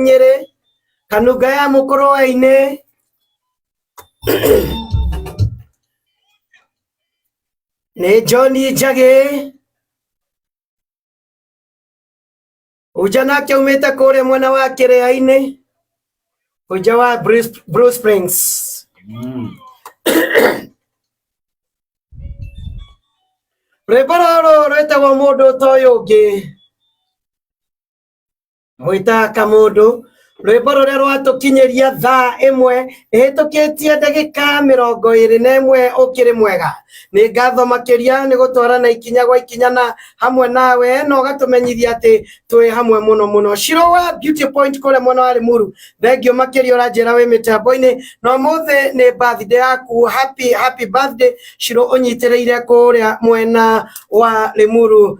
nyere kanunga ya mũkũrũwainĩ nĩ njoni njagĩ uja nake umĩte kũrĩa mwena wa kĩrĩa-inĩ uja wa Bruce- Bruce Springs rwĩmbo rũrũ rwĩtagwo mũndũ ũtoĩ ũngĩ mwĩtaga kamũndũ rwĩmbo rũrĩa rwatũkinyĩria thaa ĩmwe ĩhĩtũkĩtie ndagĩka mĩrongo ĩrĩ na ĩmwe ũkĩrĩ mwega nĩ ngatho makĩria nĩ gũtwara na ikinya gwa ikinya na hamwe nawe na ũgatũmenyithia atĩ twĩ hamwe mũno mũno Shiro wa beauty point kũrĩa mwena wa limuru thengio makĩria ũranjĩra wĩ mĩtambo-inĩ na ũmũthĩ nĩ birthday yaku happy happy birthday Shiro ũnyitĩrĩire kũrĩa mwena wa limuru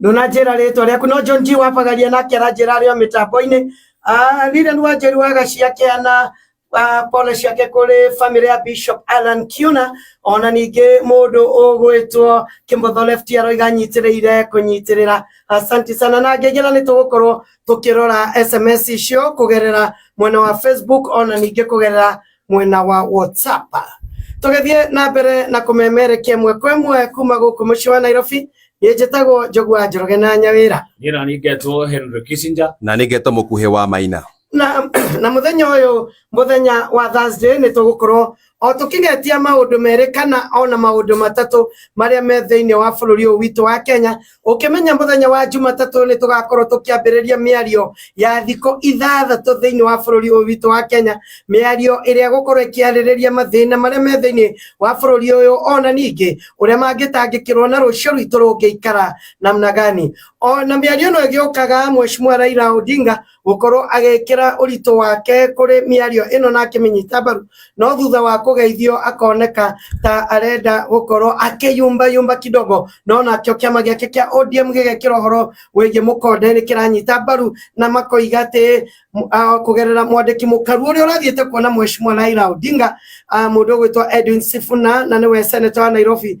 ndunanjĩra rĩtwa rĩaku no John G wapagaria nake aranjĩra arĩ o mĩtambo-inĩ Ah, Lilian Wanjĩru wagacia kĩana ah, pole ciake kũrĩ famĩlĩ ya Bishop Alan Kiuna ona ningĩ mũndũ ũgwĩtwo Kĩmotho left aroiga nyitĩrĩire kũnyitĩrĩra asanti sana na ngengera nĩ tũgũkorwo tũkĩrora SMS icio kũgerera mwena wa Facebook ona ningĩ kũgerera mwena wa WhatsApp. Tũgĩthiĩ na mbere na kũmemerekia ĩmwe kwa ĩmwe kuma gũkũ mũciĩ wa Nairobi, niĩ njĩtagwo Njũgua Njoroge na Nyawĩra. Niĩ nani ngetwo Henry Kissinger. Na nĩ ngetwo mũkuhĩ wa Maina. Na, na mũthenya ũyũ mũthenya wa Thursday nĩ tũgũkorwo o tũkĩgetia maũndũ merĩ kana ona maũndũ matatũ marĩa me thĩinĩ wa bũrũri ũyũ witũ wa Kenya ukimenya muthenya wa jumatatu ni tugakorwo tukiambiriria miario ya thiko ithathatu thiini wa bururi uyu witu wa kenya miario iria gukorwo ikiaririria mathina maria me thiini wa bururi uyu ona ningi uria mangitangikirwo na rucio rwitu rungiikara namna gani ona miario no igiukaga mheshimiwa raila odinga gũkorwo agĩkĩra ũritũ wake kũrĩ mĩario ĩno na akĩmĩnyita mbaru no thutha wa kũgeithio akoneka ta arenda gũkorwo akĩyumba yumba kidogo no nakĩo kĩama gĩake kĩa ODM gĩgekĩra ũhoro wĩgiĩ mũkonde nĩ kĩranyita mbaru na makoiga atĩ kũgerera mwandĩki mũkaru ũrĩa ũrathiĩte kuona mheshimiwa Raila Odinga mũndũ ũgwĩtwo Edwin Sifuna na nĩwe seneta wa Nairobi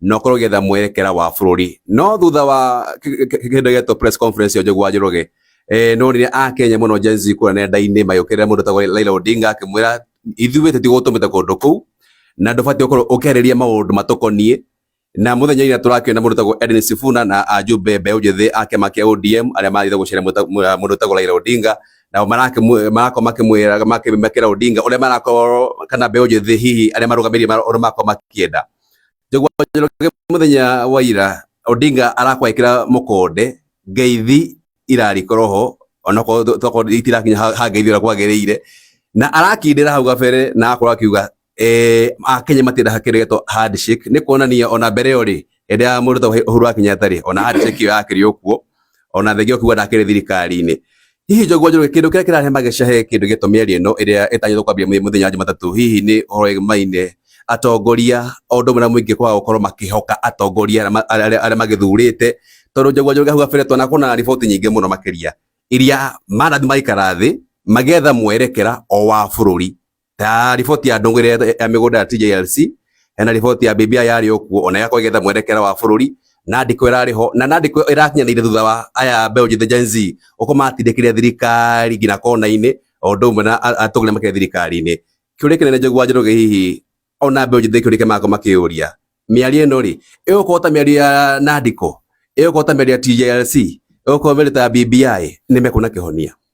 na ũkorwo ũgĩetha mwerekera wa bũrũri no thutha wa kĩndũ gĩetwo press conference ya Njũgũ wa Njoroge eh, nonire akenya mũno Gen Z kũrĩa nenda-inĩ magĩũkĩrĩra mũndũ tagwo Raila Odinga akĩmwĩra ithuĩ tũtigũtũmĩte kũndũ kũu na ndũbatiĩ gũkorwo ũkĩarĩria maũndũ matũkoniĩ na mũthenya ira tũrakĩona mũndũ tagwo Edwin Sifuna na ajumbe mbeũ njĩthĩ a kĩama kĩa ODM arĩa marathiĩ gũceera mũta- mũ- mũndũ tagwo Raila Odinga nao marakĩmwĩ- marakorwo makĩmwĩra makĩmekĩra Odinga ũrĩa marakorwo kana mbeũ njĩthĩ hihi arĩa marũgamĩrĩire mara- ũrĩa marakorwo makĩenda njogua njoroge muthenya wa ira odinga arakwekira mukonde ngeithi irarikorwo ho onakorwo tokorwo itirakinya ha ngeithi ura kwagirire na arakindira hau gabere na akorwo akiuga eh, akenya matira hakiregetwo handshake ni kuonania ona mbere yo ri ende ya muruto uhuru wa kenyatta ri ona handshake iyo yakiri okuo ona thengio kuga ndakĩrĩ thirikari-inĩ hihi njogua njoroge kĩndũ kĩrĩa kĩrarehe mageca he kĩndũ gĩtũ mĩario ĩno ĩrĩa ĩtanyĩtwo kwambia mũthenya wa jumatatũ hihi nĩ ũhoro wĩgimaine atongoria o ũndũ ũmwe na mũingĩ kwaga gũkorwo makĩhoka atongoria arĩa ma- arĩa arĩa magĩthurĩte tondũ njogua njoroge hau gabere twana kuona riboti nyingĩ mũno makĩria iria manathi magaikara thĩ magetha mwerekera o wa bũrũri Ta riboti ya ndũng'ĩre ya mĩgũnda ya TJLC hena riboti ya BBI yarĩ o kuo ona ĩgakorwo ĩgetha mwerekera wa bũrũri na andĩko ĩrarĩ ho na na andĩko ĩrakinyanĩire thutha wa aya mbeũ njĩthĩ Gen Z gũkorwo matindĩkĩrĩra thirikari nginya kona-inĩ o ũndũ ũmwe na a- atongoria makĩria thirikari-inĩ. Kĩũria kĩnene Njogu wa Njoroge hihi ona mbeũ njĩthĩ kĩũria kĩa marakorwo makĩyũria mĩario ĩno rĩ ĩgũkorwo ta mĩario ya Nandiko ĩgũkorwo ta mĩario ya TJLC ĩgũkorwo mĩario ta ya BBI nĩ mekuona kĩhonia.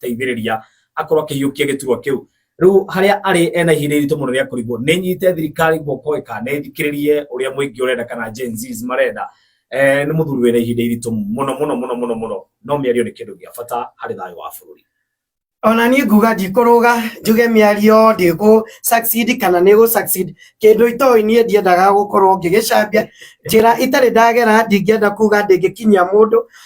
kũmũteithĩrĩria akorwo akĩhiũkia gĩturwa kĩu rĩu harĩa arĩ ena ihinda iritũ mũno rĩa kũrigwo nĩ nyite thirikari guoko ĩka nĩ thikĩrĩrie ũrĩa mũingĩ ũrenda kana Gen Zs marenda eh, nĩ mũthuri wĩna ihinda iritũ mũno mũno mũno mũno mũno no mĩario nĩ kĩndũ gĩa bata harĩ thayũ wa bũrũri ona niĩ nguga ndikũrũga njuge mĩario ndĩkũ succeed kana nĩ gũ succeed kĩndũ itoĩ niĩ ndiendaga gũkorwo ngĩgĩcambia njĩra itarĩ ndagera ndingĩenda kuga ndĩngĩkinyia mũndũ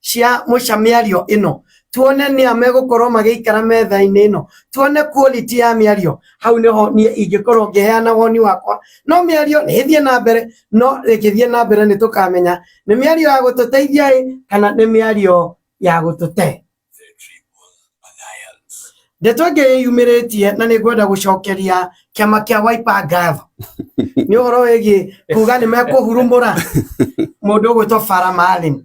cia mũca mĩario ĩno tuone nĩ a megũkorwo magĩikara metha-inĩ ĩno tuone quality ya mĩario hau nĩho niĩ ingĩkorwo ngĩheana woni wakwa no mĩario nĩ ĩthiĩ na mbere no ĩkĩthiĩ na mbere nĩ tũkamenya nĩ mĩario ya gũtũteithia ĩ kana nĩ mĩario ya gũtũte ndeto ĩngĩ yĩyumĩrĩtie na nĩ ngwenda gũcokeria kĩama kĩa Wiper ngatho nĩ ũhoro wĩgiĩ kuga nĩ mekũhurumũra mũndũ ũgwĩtwo Farah Maalim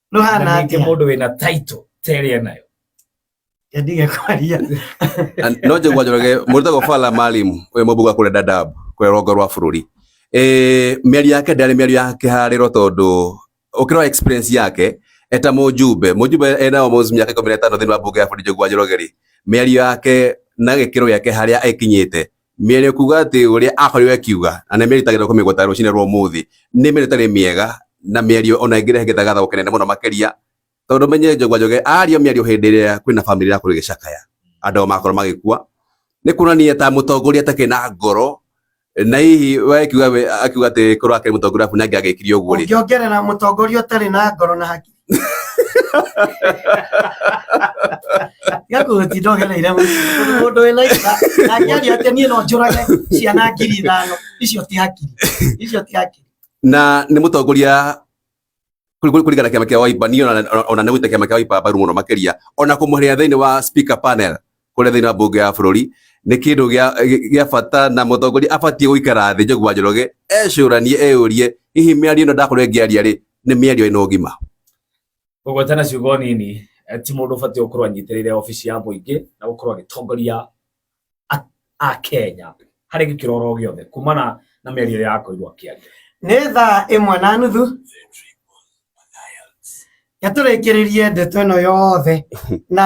no na hana ningĩ atia mũndũ wĩna title ta ĩrĩa enayo ndige kwaria And no njagua njoroge mũrutagwo bala malimu ũyũ mũmbuga kũrĩa dadab kũrĩa rũgongo rwa bũrũri Eh, mĩario yake ndarĩ mĩario ya kĩharĩro tondũ ũkĩrora experience yake eta mũjumbe mũjumbe ena almost mĩaka ikũmi na ĩtano thĩinĩ wa mbunge ya bũrũri njagua njoroge rĩ mĩario yake na gĩkĩro gĩake harĩa ĩkinyĩte Mĩario kuuga atĩ ũrĩa akorirwo akiuga na nĩ meritagĩrĩra kũmĩgweta rũcinĩ rwa ũmũthĩ nĩ mĩario ĩtarĩ mĩega na mĩario ona ĩngĩrehe gĩthagathago kĩnene mũno makĩria tondũ menye Njũgũma Njoge aria mĩario hĩndĩ ĩrĩa kwĩna bamĩrĩ ĩrakorwo ĩgĩcakaya andũ ao makorwo magĩkua nĩ kuonania ta mũtongoria atakĩrĩ na ngoro na hihi we akiuga we- akiuga atĩ korwo akĩrĩ mũtongoria arabu nake agĩkire ũguo rĩ Ũngĩongerera mũtongoria ũtarĩ na ngoro na hakiri. tiga kũhũtindogera ira mũndũ wĩna ira nangĩaria atĩ niĩ no njũrage ciana ngiri ithano icio ti hakiri icio ti hakiri na nĩ mũtongoria kũringana kĩama kĩa Wiper niĩ ona nĩ gwĩta kĩama kĩa Wiper mbaru mũno makĩria ona kũmũhĩrĩria thĩinĩ wa speaker panel kũrĩa thĩinĩ wa mbunge ya bũrũri nĩ kĩndũ gĩa- gĩ- gĩa bata na mũtongoria abatiĩ gũikara thĩ njũgwa njoroge ecũranie eyũrie hihi mĩario ĩno ndakorwo ĩngĩaria rĩ nĩ mĩario ĩna ũgima gũgwetana ciugo nini eh, ti mũndũ ũbatiĩ gũkorwo anyitĩrĩire obici ya mũingĩ na gũkorwo agĩtongoria a- a kenya harĩ gĩkĩro oro gĩothe kumana na mĩario ĩrĩa akorirwo akĩaria nĩ thaa ĩmwe na nuthu gatũrĩkĩrĩrie ndeto ĩno yothe na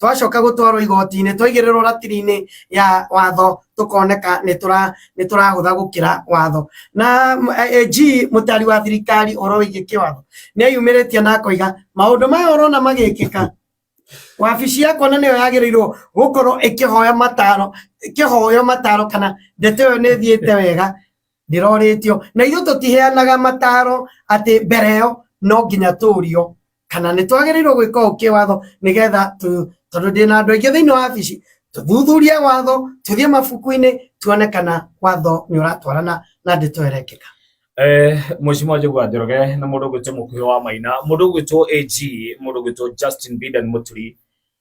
twacoka gũtwarwo igoti-inĩ twaigĩrĩrwo ratiri-inĩ ya watho tũkoneka nĩ tũra- nĩ tũrahũtha gũkĩra watho na AG mũtari wa thirikari ũhoro wĩgiĩ kĩwatho nĩ eyumĩrĩtie na akoiga maũndũ maya ũrona magĩkĩka wabici yakwa na nĩyo yagĩrĩirwo gũkorwo ĩkĩhoya mataro ĩkĩhoyo mataro kana ndeto ĩyo nĩ ĩthiĩte wega ndĩrorĩtio na ithuĩ tũtiheanaga mataro atĩ mbere ĩyo no nginya tũrio kana nä twagä gwä ka å kä watho nä getha tondå ndä na andå aingä thä inä wa wabici tå thuthurie watho tå thiä mabuku-inä tuone kana watho nä å ratwarana na ndä to ĩrekĩka Eh, Mheshimiwa Njũgũ Njoroge nĩ mũndũ ũgwĩtwo mũkuhĩ wa Maina, mũndũ ũgwĩtwo AG, mũndũ ũgwĩtwo Justin Bidan Mũturi,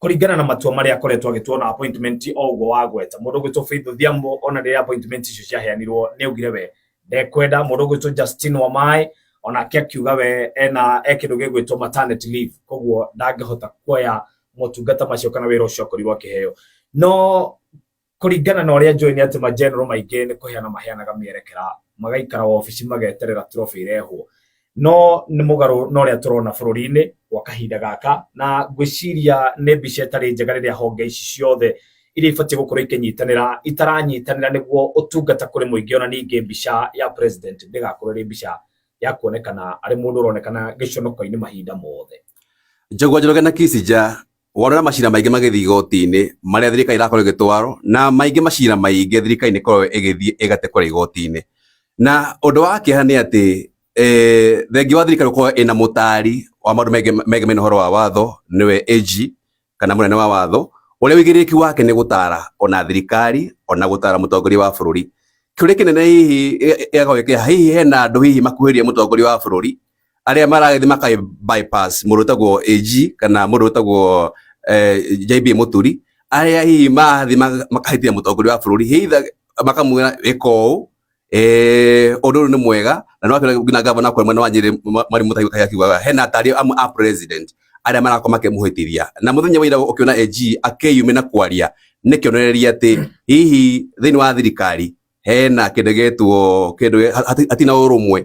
kũringana na matua marĩa akoretwo agĩtua na appointment o ũguo wagweta mũndũ ũgwĩtwo Faith Odhiambo ona rĩrĩa appointment icio ciaheanirwo nĩ augire we ndekwenda mũndũ ũgwĩtwo Justin Wamaĩ onake akiuga we ena e kĩndũ gĩgwĩtwo maternity leave koguo ndangĩhota kuoya motungata macio kana wĩra ũcio akorirwo akĩheo no Kũringana na ũrĩa njũĩ nĩ atĩ ma general maingĩ nĩ kũheana maheanaga mĩerekera, magaikara wabici mageterera trophy ĩrehwo. No nĩ mũgarũ na ũrĩa tũrona bũrũri-inĩ gwa kahinda gaka, na ngwĩciria nĩ mbica ĩtarĩ njega rĩrĩa honge ici ciothe iria ibatiĩ gũkorwo ikĩnyitanĩra itaranyitanĩra nĩguo ũtungata kũrĩ mũingĩ ona ningĩ mbica ya president ndĩgakorwo ĩrĩ mbica ya kuonekana arĩ mũndũ ũronekana gĩconoko-inĩ mahinda mothe. Njũgũma Njoroge na Kissinger Wona macira maingĩ magĩthiĩ igoti-inĩ marĩa thirikari ĩrakorwo ĩgĩtwarwo na maingĩ macira maingĩ thirikari nĩ ĩkoragwo ĩgĩthiĩ ĩgate kũrĩa igoti-inĩ. Na ũndũ wa kĩeha nĩ atĩ eh, thengia wa thirikari gũkorwo ĩna mũtaari wa maũndũ megiĩ- megemainie na ũhoro wa watho nĩwe AG kana mũnene wa watho ũrĩa wĩigĩrĩrĩki wake nĩ gũtaara ona thirikari ona gũtaara mũtongoria wa bũrũri. Kĩũria kĩnene hihi gĩ- gĩgakorwo gĩkĩha hihi hena andũ hihi makuhĩrĩirie mũtongoria wa bũrũri arĩa marathi maka bypass mũndũ ũtagwo AG kana mũndũ ũtagwo eh, JB Mũturi arĩa hihi mathi ma- makahĩtia mũtongoria wa bũrũri hitha makamwĩra ĩka ũũ eh, ũndũ ũyũ nĩ mwega na no atwĩre nginya gavana kwa mwena wa Nyĩrĩ ma- Mwari Mũtahi Kaĩ akiugaga hena atari amwe a president arĩa marakorwo makĩmũhĩtithia na mũthenya wa ira ũkĩona AG akĩyume na kwaria nĩ kĩonereria atĩ hihi thĩinĩ wa thirikari hena kĩndũ gĩtwo kĩndũ gĩ- hati- hatina ũrũmwe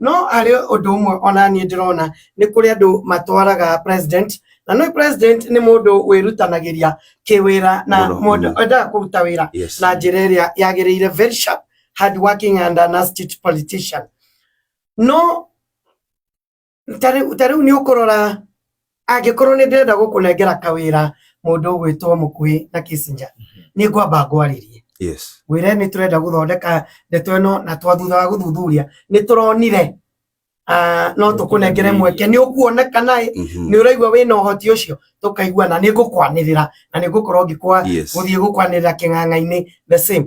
no harĩ ũndũ ũmwe ona niĩ ndĩrona nĩ kũrĩ andũ matwaraga president na nĩ president nĩ mũndũ wĩrutanagĩria kĩwĩra na Mũno, mũndũ mũno. endaga kũruta wĩra Yes. na njĩra ĩrĩa yagĩrĩire very sharp hard working and an astute politician no ta rĩu ta rĩu nĩ ũkũrora angĩkorwo nĩ ndĩrenda gũkũnengera kawĩra mũndũ ũgwĩtwo mũkuhĩ na Kissinger nĩ ngwamba ngwarĩrie yes wĩre nĩ tũrenda gũthondeka ndeto ĩno na twathutha wa gũthuthuria nĩ tũronire ah, no tũkũnengere mweke nĩ ũkuonekana ĩ Mhm. nĩ ũraigua wĩ na ũhoti ũcio tũkaigua na nĩ ngũkwanĩrĩra na nĩ ngũkorwo ngĩkwa Yes. gũthiĩ gũkwanĩrĩra kĩng'ang'a-inĩ the same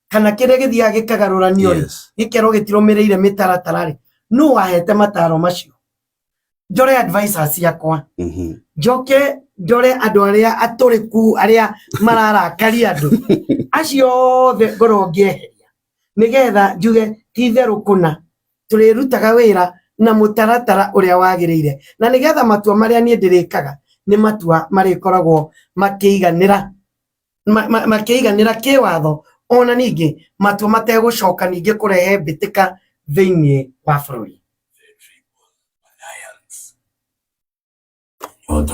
kana kĩrĩa gĩthiaga gĩkagarũranio rĩ Yes. gĩkerwo gĩtirũmĩrĩire mĩtaratara rĩ nũ wahete mataro macio njore advisor ciakwa Mhm. njoke ndore andũ arĩa atũrĩku arĩa mararakaria andũ acio othe ngorwo ngĩeheria nĩgetha njuge ti itherũ kũna tũrĩrutaga wĩra na mũtaratara ũrĩa wagĩrĩire na nĩgetha matua marĩa niĩ ndĩrĩkaga nĩ matua marĩkoragwo makĩiganĩra makĩiganĩra kĩwatho ona ningĩ matua mategũcoka ningĩ kũrehe mbĩtĩka thĩinĩ wa bũrũri.